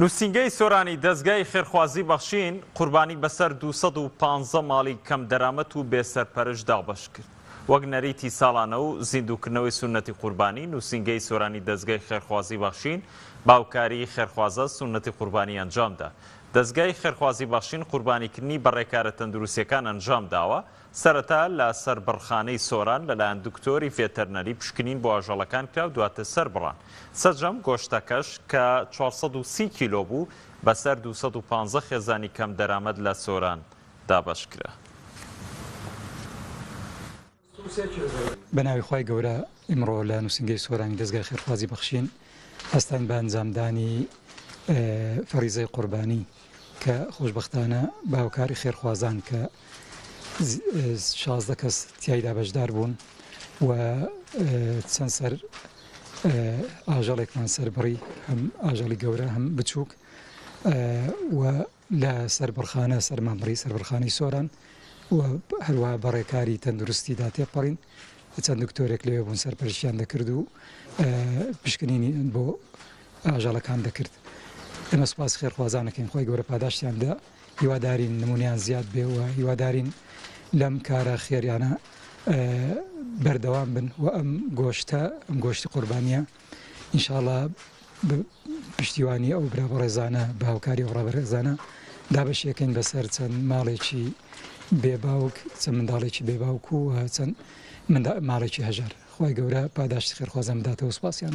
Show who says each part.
Speaker 1: نووسینگەی سۆرانی دەزگای خێرخوازی بەخشین قوربانی بەسەر دوو سەد و پازدە ماڵی کەم دەرامەت و بێ سەرپەرش دابەش کرد وەک نەریتی ساڵانە و زیندووکردنەوەی سوننەتی قوربانی نووسینگەی سۆرانی دەزگای خێرخوازی بەخشین باوکاری خێرخوازە سوننەتی قوربانی ئەنجامدا دەزگای خێرخوازی بەخشین قوربانیکردنی بە ڕێکارە تەندروستیەکان ئەنجامداوە سەرەتا لە سەربڕخانەی سۆران لەلایەن دکتۆری ڤێتەرنەری پشکنین بۆ ئاژەڵەکان کرا و دواتر سەربڕان. سەرجەم گۆشتەکەش کە چوار سەد و سی کیلۆ بوو، بەسەر دوو سەد و پازدە خێزانی کەمدەرامەت لە سۆران دابەش کرا.
Speaker 2: بەناوی خوای گەورە ئیمڕۆ لە نوسینگەی سۆرانی دەزگای خێرخوازی بەخشین هەستاین بە ئەنجامدانی فەریزەی قوربانی. کە خۆشبەختانە باوکاری خێرخوازان کە شازدە کەس تیایدا بەشدار بوون و چەند سەر ئاژەڵێکمان سەربڕی هەم ئاژەڵی گەورە هەم بچووک و لە سەربڕخانە سەرمان بڕی سەربڕخانی سۆران و هەروە بەڕێکاری تەندروستیدا تێپەڕین چەند دکتۆرێک لێ بوون سەرپەرشیان دەکرد و پشکنینی بۆ ئاژەڵەکان دەکرد ئێمە سوپاسی خێرخوازان ئەکەین خوای گەورە پاداشتیان دا هیوادارین نمونەیان زیاد بێ و هیوادارین لەم کارە خێریانە بەردەوام بن و ئەم گۆشتە ئەم گۆشتی قوربانیە ئینشاءڵە پشتیوانی ئەو برا بەڕێزانە بە هاوکاری ئەو ڕابەرێزانە دابەشیەکەین بەسەر چەند ماڵێکی بێباوک چەند منداڵێکی بێباوک و چەند ماڵێکی هەژار خی گەورە پاداشت خێرخوازم داتەوە سوپاسیان.